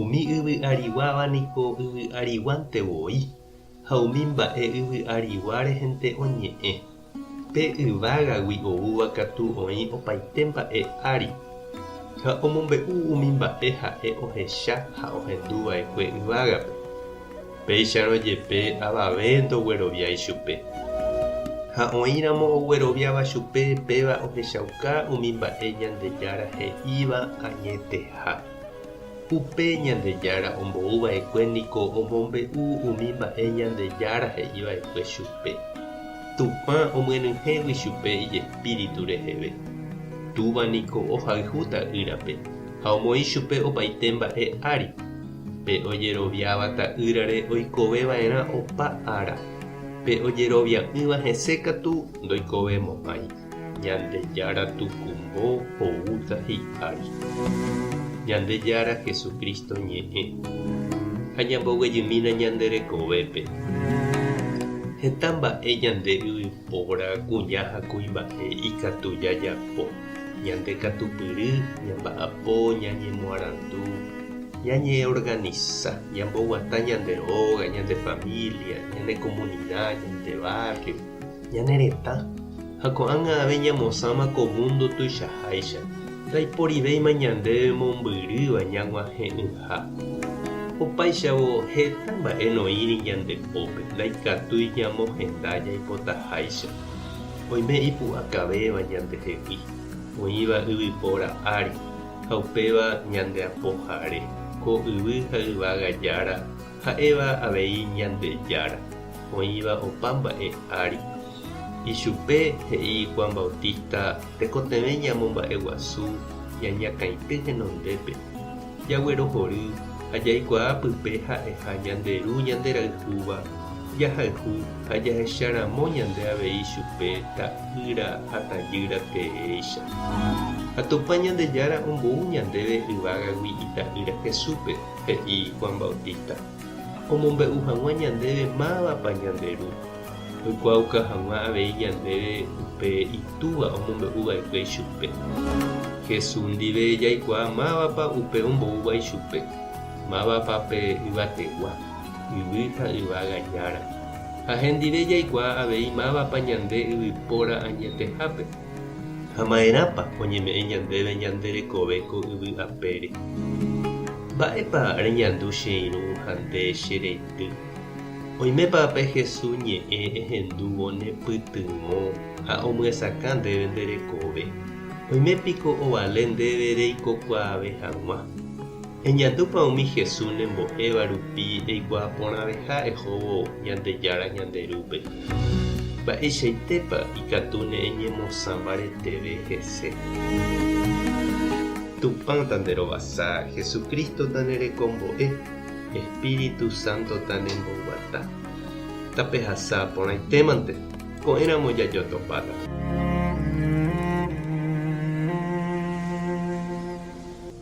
Umi yvy ariguáva niko yvy ariguánte voi, ha umi mba'e yvy arigua rehente oñe'ẽ. Pe yvágagui oúva katu oĩ opaite mba'e ári, ha omombe'u umi mba'e ha'e ohecha ha ohendu va'ekue yvágape. Péicharõ jepe avave ndogueroviái chupe. Ha oĩramo ogueroviáva chupe péva ohechauka umi mba'e Ñandejára he'íva añeteha. Upe Ñandejára ombou va'ekue niko omombe'u umi mba'e Ñandejára he'i va'ekue chupe. Tupã omyenyhẽgui chupe ijespíritu reheve. Túva niko ohayhu Ta'ýrape ha omoĩ chupe opaite mba'e ári. Pe ojeroviáva Ta'ýrare oikove va'erã opa ára, pe ojerovia'ỹva hese katu ndoikove mo'ãi. Ñandejára Tukumbo oúta hi'ári, Ñandejára Jesucristo Ñe'ẽ, ha ñamboguejymína ñande rekovépe. Heta mba'e ñande yvypóra kuña ha kuimba'e ikatu jajapo, ñande katupyry, ñamba'apo, ñañemoarandu, ñañeorganisa, ñamboguata ñande óga, ñande familia, ñane komunida, ñande barrio, Ñane retã, ha ko'ág̃a avei ñamosãma ko múndo tuichaháicha, ndaiporivéima ñande mombyrýva ñag̃uahẽ'ỹha. Opáichavo, heta mba'e noĩri ñande pópe ndaikatúi ñamohenda jaipotaháicha. Oime ipu'akavéva ñandehegui, oĩva yvypóra ári ha upéva ñande apohare, ko yvy ha yvága jára, Ha'éva avei Ñandejára oĩva opa mba'e ári. Ichupe he'i Juan Bautista tekotevẽ ñamomba'eguasu ñañakãity henondépe, jaguerohory ha jaikuaa pype ha'eha ñande Ru ñanderayhúva jahayhu ha jahecharamo ñande avei chupe ta'ýra ha tajýra teéicha. Ha Tupã Ñandejára ombou ñandéve yvágagui Ita'ýra Jesúspe. He'i Juan Bautista, Omombe'u hag̃ua ñandéve mávapa ñande Ru. Oikuaauka hag̃ua avei ñandéve upe Itúva omombe'u va'ekue ichupe. Jesús ndive jaikuaa mávapa upe omboúva ichupe, mávapa pe yvategua, yvy ha yvága jára. Ha hendive jaikuaa avei mávapa ñande yvypóra añetehápe. Ha maerãpa oñeme'ẽ ñandéve ñande rekove ko yvy apére? Mba'épa reñandu che irũ ha nde che reindy? Oimépa pe Hesu ñe'ẽ ehendúvo ne pytyvõ ha omyesakã ndéve nde rekove? Oime piko ovale ndéve reikokuaave hag̃ua? Eñandúpa umi Jesús nembo'éva rupi eikuaa porãveha ehóvo Ñandejára ñande Rúpe? Mba'eichaitépa ikatu ne'eñemosã mbareteve hese? Tupã tanderovasa, Jesucristo tanerekombo'e, Espíritu Santo tanemboguata. Tapehasa porãitémante, ko'ẽramo jajotopáta.